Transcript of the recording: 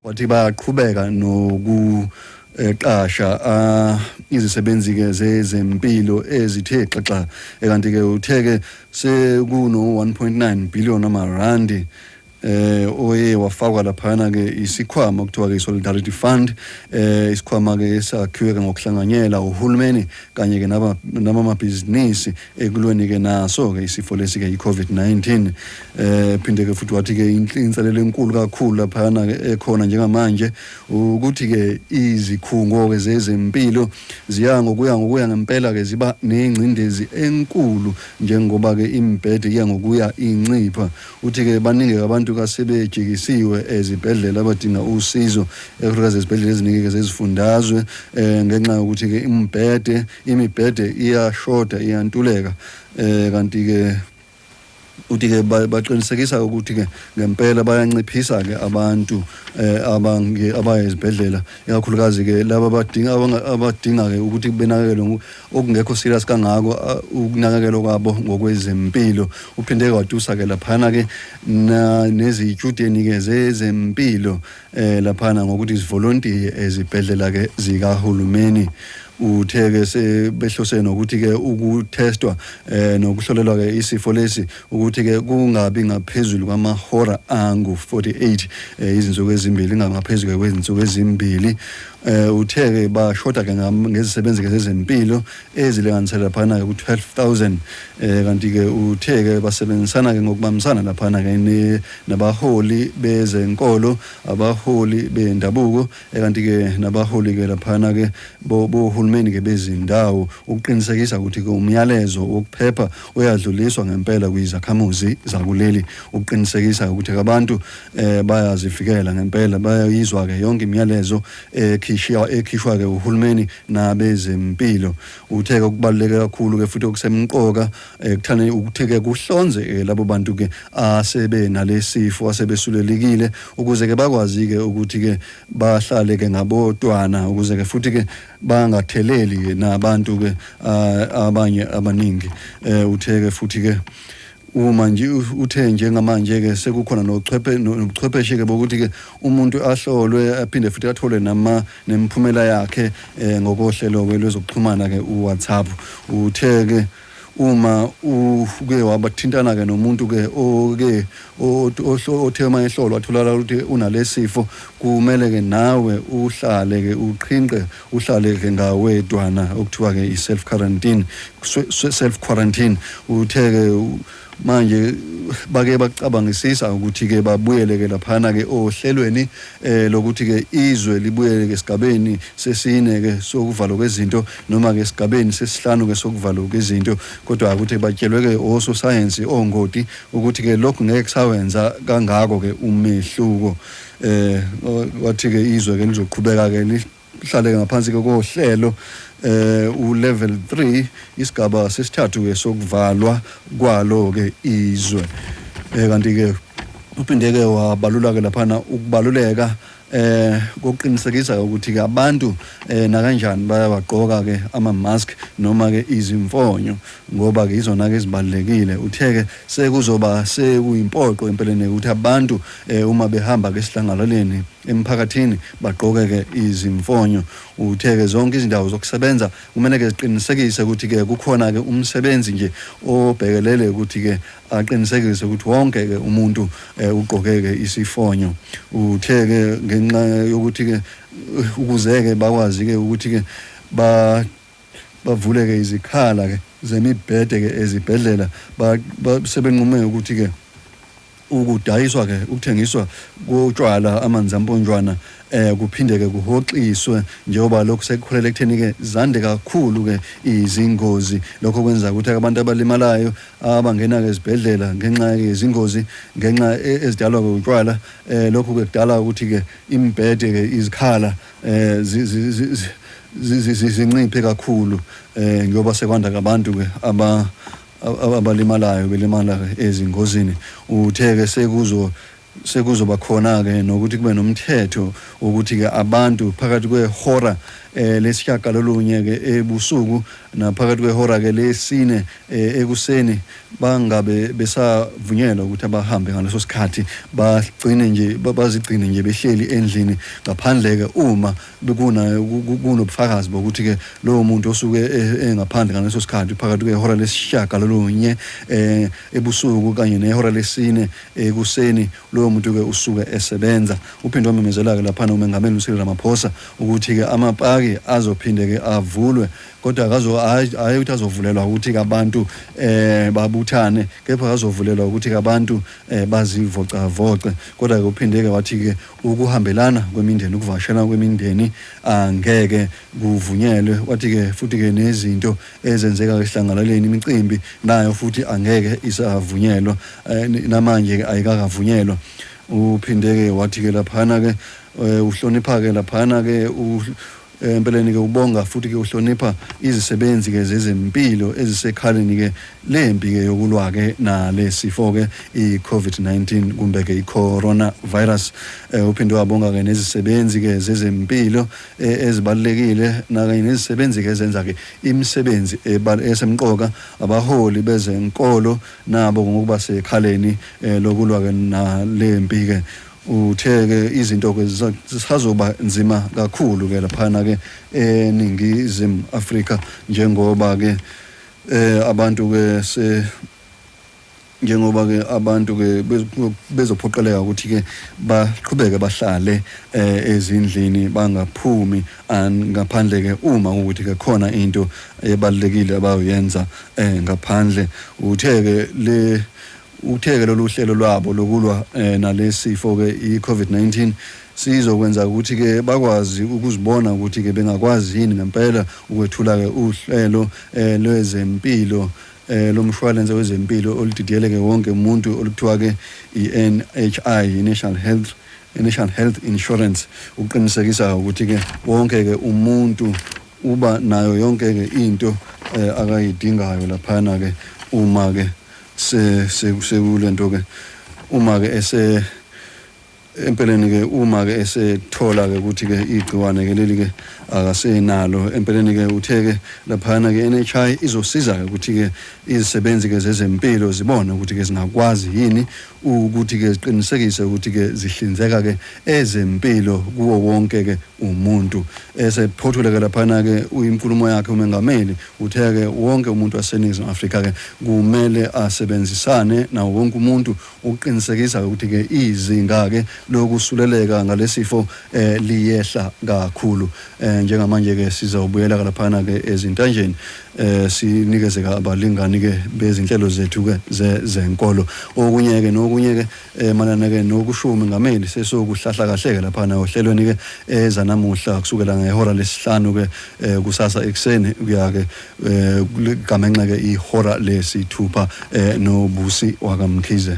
wathi bayaqhubeka noku eqasha ah, izisebenzi ke zezempilo ezithe xaxa eh, kanti ke uthe ke sekuno 1.9 billion amarandi eh oye wafakwa laphana ke isikhwama okuthiwa ke solidarity fund eh isikhwama ke esakhiwe ngokuhlanganyela uhulumeni kanye ke naba namabhizinisi ekulweni ke naso ke isifo lesi ke iCovid-19 eh phinde ke futhi wathi ke inselelo enkulu kakhulu laphana ekhona njengamanje ukuthi ke izikhungo ke zezempilo ziya ngokuya ngokuya ngempela ke ziba nengcindezi enkulu njengoba ke imbhede iya ngokuya incipha uthi ke baningi abantu kasebejikisiwe ezibhedlela abadinga usizo ekuhlakaza ezibhedlela eziningi ke zezifundazwe eh ngenxa yokuthi ke imbhede Imibhede iyashoda iyantuleka eh kanti ke uthi ke baqinisekisa ukuthi ke ngempela bayanciphisa ke abantu eh, abange abaya ezibhedlela ikakhulukazi ke laba badinga abadinga ke ukuthi benakekelwe okungekho serious kangako ukunakekelwa kwabo ngokwezempilo uphinde kwatusa ke laphana ke nezitshudeni ke zezempilo eh laphana ngokuthi izivolontiye ezibhedlela ke zikahulumeni uthe ke sebehlose nokuthi ke ukutestwa eh nokuhlolelwa ke isifo lesi ukuthi ke kungabi ngaphezulu kwamahora angu 48 eh, izinsuku ezimbili ngangaphezulu kwezinsuku ezimbili eh uthe ke bashoda ke ngezisebenzi ke zezempilo ezilinganisela laphana-ke ku-12000 eh kanti-ke uthe-ke basebenzisana-ke ngokubambisana laphana-ke nabaholi bezenkolo abaholi bendabuko eh, kanti-ke nabaholi-ke laphana-ke bohulumeni-ke bezindawo ukuqinisekisa ukuthi-ke umyalezo wokuphepha uyadluliswa ngempela kwizakhamuzi zakuleli ukuqinisekisa ukuthi-ke abantu um bayazivikela ngempela bayayizwa-ke yonke imiyalezo ekhishiwa ekhishwa ke uhulumeni nabezempilo uthe okubaluleke kakhulu ke futhi okusemqoka ekuthane eh, ukuthi ke kuhlonze eh, labo bantu ke asebe nalesifo asebesulelekile ukuze ke bakwazi ke ukuthi ke bahlale ke ngabodwana ukuze ke futhi ke bangatheleli nabantu ke ah, abanye abaningi eh, uthe ke futhi ke Uma nje uthe njengamanje ke sekukhona nochwephe nobuchwepheshe ke bokuthi ke umuntu ahlolwe aphinde futhi athole nama nemphumela yakhe eh, ngokohlelo ke lwezokuxhumana ke uWhatsApp uthe ke uma uke wabathintana ke nomuntu ke oke othe uma ehlolwa atholakala ukuthi unalesifo kumele ke nawe uhlale ke uqhinqe uhlale ke ngawedwana okuthiwa ke i-self quarantine self quarantine uthe ke manje bake bacabangisisa ukuthi ke babuyele ke laphana ke ohlelweni eh lokuthi ke izwe libuyele ke sigabeni sesine ke sokuvalwa kwezinto noma ke sigabeni sesihlanu ke sokuvalwa kwezinto kodwa akuthi batshelwe ke oso science ongoti ukuthi ke lokhu ngeke kusawenza kangako ke umehluko eh wathi ke izwe ke lizoqhubeka ke lihlale ngaphansi ke kohlelo eh u level 3 isigaba sesithathu ke sokuvalwa kwalo ke izwe eh kanti ke uphinde ke wabalula ke laphana ukubaluleka eh kokuqinisekisa ukuthi ke abantu eh nakanjani bayawagqoka ke ama mask noma ke izimfonyo ngoba ke izona ke ezibalekile utheke Sekuzoba sekuyimpoqo empeleni ukuthi abantu eh, uma behamba ke sihlangalaleni emphakathini bagqoke ke izimfonyo uthe ke zonke izindawo zokusebenza kumele ke ziqinisekise ukuthi ke kukhona ke umsebenzi nje obhekelele ukuthi ke aqinisekise ukuthi wonke ke umuntu eh, ugqoke ke isifonyo uthe ke ngenxa yokuthi ke ukuzeke bakwazi ke ukuthi ke ba bavuleke izikhala ke zemibhede ke ezibhedlela sebenqume ukuthi ke ukudayiswa ke ukuthengiswa kotshwala amanzi amponjwana eh kuphinde ke kuhoxiswe njengoba lokho sekukhulele ekutheni ke zande kakhulu ke izingozi lokho kwenza ukuthi abantu abalimalayo abangena ke ezibhedlela ngenxa yezingozi ngenxa e-, ezidalwa ke utshwala eh lokho ke kudala ukuthi ke imbhede ke izikhala zinciphe kakhulu ngoba sekwanda kabantu-ke abalimalayo belimala ezingozini uthe-ke sekuzo sekuzoba khona-ke nokuthi kube nomthetho wokuthi-ke abantu phakathi kwehora eh lesishiyagalolunye-ke ebusuku naphakathi kwehora-ke lesine eh ekuseni bangabe besavunyelwa ukuthi abahambe ngaleso sikhathi bagcine nje bazigcine nje behleli endlini ngaphandle-ke uma kunobufakazi bokuthi-ke lowo muntu osuke e-, engaphandle ngaleso sikhathi phakathi kwehora lesishiyagalolunye um ebusuku kanye nehora lesine ekuseni lowo muntu-ke usuke esebenza uphinde wamemezela-ke laphana umengameli ucyril ramaphosa ukuthi-ke amapaki azophinde-ke avulwe kodwa akazo hayi ukuthi azovulelwa ukuthi kabantu eh babuthane kepha azovulelwa ukuthi kabantu eh bazivoca voce kodwa ke uphindeke wathi ke ukuhambelana kwemindeni ukuvashela kwemindeni angeke kuvunyelwe wathi ke futhi ke nezinto ezenzeka esihlangalaleni imicimbi nayo futhi angeke isavunyelwa eh, namanje ke ayikakavunyelwa uphindeke wathi ke laphana ke eh, uhlonipha ke laphana ke Eh, empeleni-ke ubonga futhi-ke uhlonipha izisebenzi-ke zezempilo ezisekhaleni-ke lempi-ke yokulwa-ke nale sifo-ke i-covid-19 kumbe-ke i-coronavirus um uphinde wabonga-ke nezisebenzi-ke zezempilo eh, ezibalulekile nakanye nezisebenzi-ke ezenza-ke imisebenzi esemqoka abaholi bezenkolo nabo ngokuba sekhaleni um lokulwa-ke nale mpi-ke Uthe ke izinto ke zisazoba nzima kakhulu ke laphana ke eningizimu Afrika njengoba ke eh abantu ke se njengoba ke abantu ke bezophoqeleka ukuthi ke baqhubeke bahlale eh, ezindlini bangaphumi ngaphandle ke uma ukuthi ke khona into ebalekile abayoyenza eh, ngaphandle uthe ke le Uthe-ke lolu hlelo lwabo lokulwa eh, nalesi sifo-ke i-COVID-19 sizokwenza ukuthi-ke bakwazi ukuzibona ukuthi-ke bengakwazi yini ngempela ukwethula-ke uhlelo eh, lwezempilo eh, lomshwalense wezempilo oludidiyeleke wonke umuntu oluthiwa-ke i-NHI, i-National Health i-National Health Insurance ukuqinisekisa ukuthi-ke wonke-ke umuntu uba nayo yonke-ke into eh, akayidingayo laphana-ke uma-ke Se se sekulento ke uma ke ese empeleni ke uma ke esethola ke ukuthi ke igciwane ke leli ke akasenalo empeleni ke uthe ke laphana ke NHI izosiza ke ukuthi ke izisebenzi ke zezempilo zibone ukuthi ke zingakwazi yini ukuthi ke ziqinisekise ukuthi ke zihlinzeka ke ezempilo kuwo wonke ke umuntu esephothule ke laphana ke uyinkulumo yakhe umengameli Uthe ke wonke umuntu waseNingizimu Afrika ke kumele asebenzisane nawo wonke umuntu ukuqinisekisa ukuthi ke izinga ke lokusuleleka ngalesifo eh, liyehla kakhulu eh, njengamanje ke sizawubuyela kalaphana ke ezintanjeni eh, sinikeze abalingani ke bezinhlelo zethu ke zenkolo okunye ke nokunye ke eh manana ke nokusho umengameli sesokuhlahla kahle ke lapha na ohlelweni ke eza namuhla kusukela ngehora lesihlanu ke eh, kusasa ekseni kuya ke eh, ligamenxe ke ihora lesithupha eh, nobusi wakamkhize